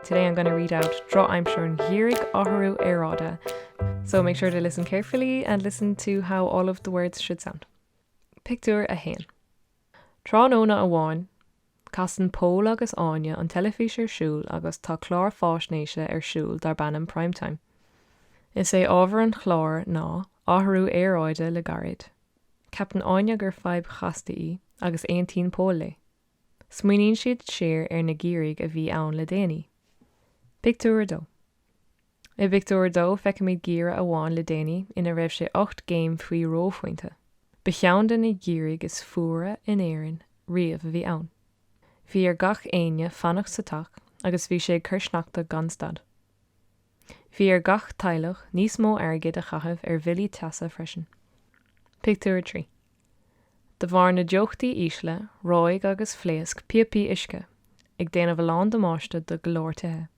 Today I'm gonna read out drochaimsir an gheimhridh athrú aeráide so make sure to listen carefully and listen to how all of the words should sound. Pictiúr 1. Tráthnóna amháin, casann Pól agus Áine an teilifís ar siúl agus tá clár faisnéise ar siúl darb ainm Prime Time. Is é ábhar an chláir ná athrú aeráide le gairid. Ceapann Áine gur fadhb chasta í agus aontaíonn Pól léi. Smaoiníonn siad siar ar na geimhrí a bhí ann le déanaí. Pictiúr 2 I bpictiúr a dó feicimid geimhreadh amháin le déanaí ina raibh sé ocht gcéim faoi reophointe. Ba cheann de na geimhrí is fuaire in Éirinn riamh a bhí ann. Bhí ar gach éinne fanacht sa teach agus bhí sé ag cur sneachta gan stad. Bhí ar gach teaghlach níos mó airgid a chaitheamh ar bhillí teasa freisin. Pictiúr 3. De bharr na dteochtaí ísle, reoigh agus phléasc píopaí uisce, ag déanamh a lán damáiste do go leor tithe.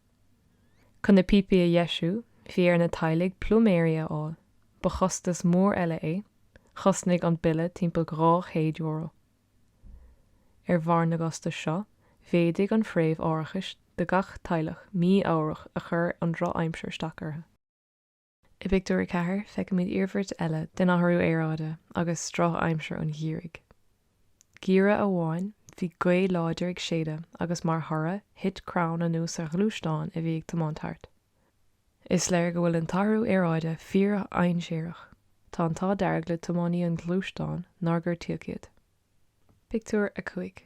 Chun na píopaí a dheisiú, bhí ar na teaghlaigh pluiméirí a fháil, ba chostas mór eile é, chosnaigh an bille timpeall €200. Ar bharr na gcostas seo, mhéadaigh an phréimh árachais do gach teaghlach mí-ámharach ar chuir an drochaimsir isteach orthu. I bpictiúr a ceathair feicimid iarmhairt eile den athrú aeráide agus drochaimsir an gheimhridh. Geimhreadh amháin, bhí gaoth láidir ag séideadh agus mar thoradh, thit crann anuas ar ghluaisteán a bhí ag tiomáint thart. Is léir go bhfuil an t-athrú aeráide fíordhainséarach. Tá an t-ádh dearg le tiománaí an ghluaisteáin nár gortaíodh iad. Pictiúr 5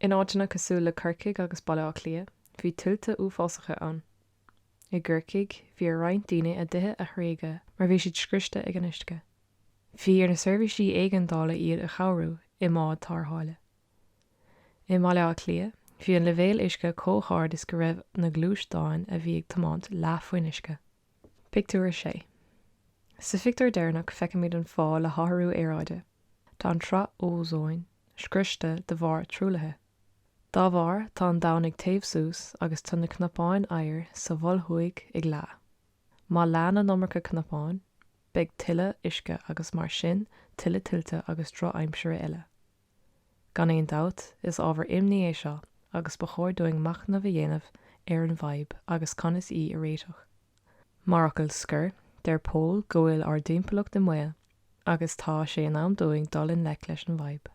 In áiteanna cosúil le Corcaigh agus Baile Átha Cliath, bhí tuilte uafásacha ann. I gCorcaigh, bhí ar roinnt daoine a dtithe a thréigeadh mar bhí siad scriosta ag an uisce. Bhí ar na seirbhísí éigeandála iad a chabhrú i mbád tarrthála. I mBaile Átha Cliath, bhí an leibhéal uisce chomh hard is go raibh na gluaisteáin a bhí ag tiomáint leath faoin uisce. Pictiúr 6 Sa phictiúr deireanach feicimid an fáth le hathrú aeráide, tá an tsraith ózóin scriosta de bharr truaillithe. Dá bharr, tá an domhan ag téamh suas agus tá na cnapáin oighir sa Mhol Thuaidh ag leá. Má leánn an iomarca cnapáin, beidh tuilleadh uisce agus mar sin tuilleadh tuilte agus drochaimsire eile. Gan aon dabht, is ábhar imní é seo agus ba chóir dúinn machnamh a dhéanamh ar an bhfadhb agus conas í a réiteach. Mar fhocal scoir, deir Pól go bhfuil ár dtimpeallacht i mbaol agus tá sé in am dúinn dul i ngleic leis an bhfadhb.